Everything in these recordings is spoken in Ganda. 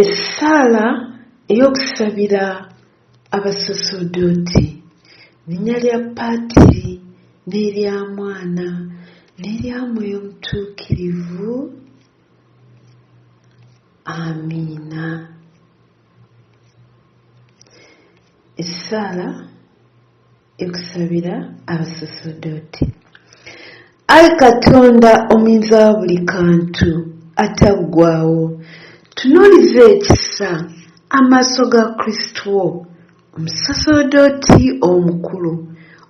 Essaala ey'okusabira abasosodooti, linnya lya patiri n'erya mwana n'erya mwoyo mutuukirivu. Amiina. Essaala. Okusabira abasosodooti. Ai Katonda omuyinza wa buli kantu ataggwaawo, tunuuliza ekisa amaaso ga Kristu wo omusosodooti omukulu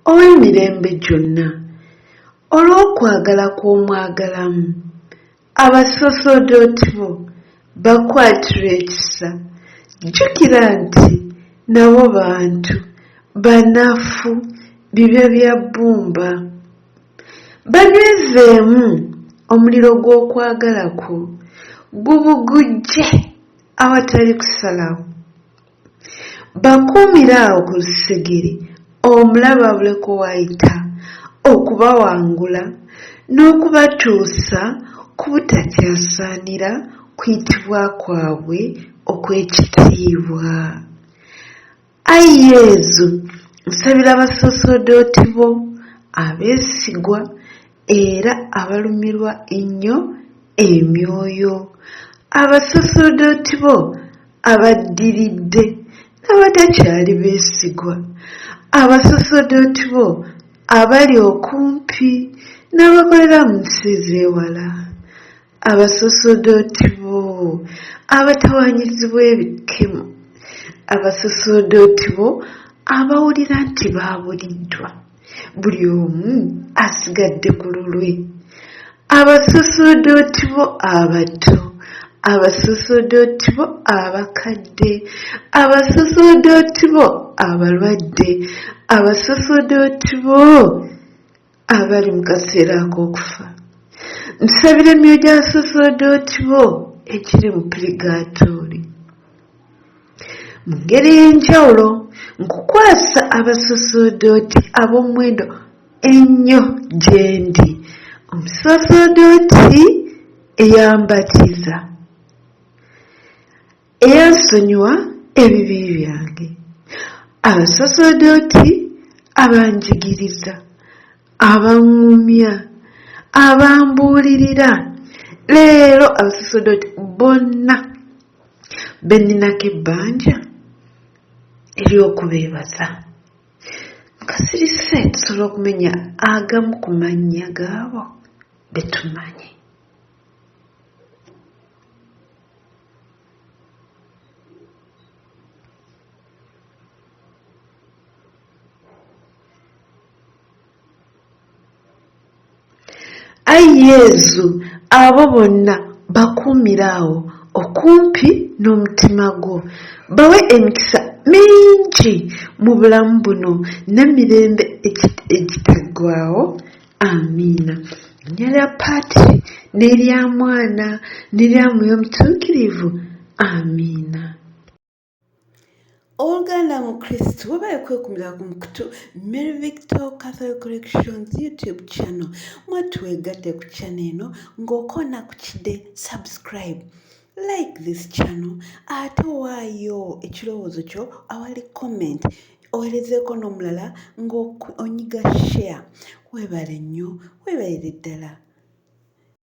ow'emirembe gyonna, olw'okwagala kw'omwagalamu, Abasosodooti bo bakwatire ekisa. Jjukira nti nabo bantu, banafu, bibya bya bbumba. Banywezeemu omuliro gw'okwagala kwo, gubugujje awatali kusalawo. Bakuumire awo ku lusegere omulabe abuleko w'ayita okubawangula n'okubatuusa ku butakyasaanira kuyitibwa kwabwe okw'ekitiibwa. Ai Yezu, nsabira abasoosodoti bo abeesigwa. era abalumirwa ennyo emyoyo abasaserdooti bo abaddiridde n'abatakyali beesigwa abasaserdooti bo abali okumpi n'abakolera mu nsi z'ewala Abasosodooti bo abatawaanyizibwa ebikkemo, abasosodooti bo abawulira nti baabuliddwa, buli omu asigadde ku lulwe, abasosodooti bo abato, abasosodooti bo abakadde, abasosodooti bo abalwadde, abasosodooti bo abali mu kaseera ak'okufa nsabira emyoyo gya saserdoti bo egiri mu purigaatooli mu ngeri ey'enjawulo nkukwasa abasaserdoti ab'omuwendo ennyo gye ndi omusaserdoti eyambatiza Eyansonyiwa ebibi byange. Abasaserdooti abanjigiriza, abaŋŋumya, abambuulirira, leero abasaserdooti bonna be nninako ebbanja ery'okubeebaza. Nga sirise tusobola okumenya agamu ku mannya g'abo be tumanyi. Ai Yezu, abo bonna bakuumire awo okumpi n'omutima gwo, bawe emikisa mingi mu bulamu buno n'emirembe egitaggwaawo. amiina linnya lya paati n'erya mwana n'erya mwoyo omutuukirivu amiina owoluganda mu kristo webaye kwekumira ku mukutu mary victor catholic corrections youtube channel mwetwegatte ku channel eno ng'okoona ku kide subscribe like this channel ate waayo ekirowoozo kyo awali comment owerezeeko n'omulala ng'onyiga share weebale nnyo weebalire ddala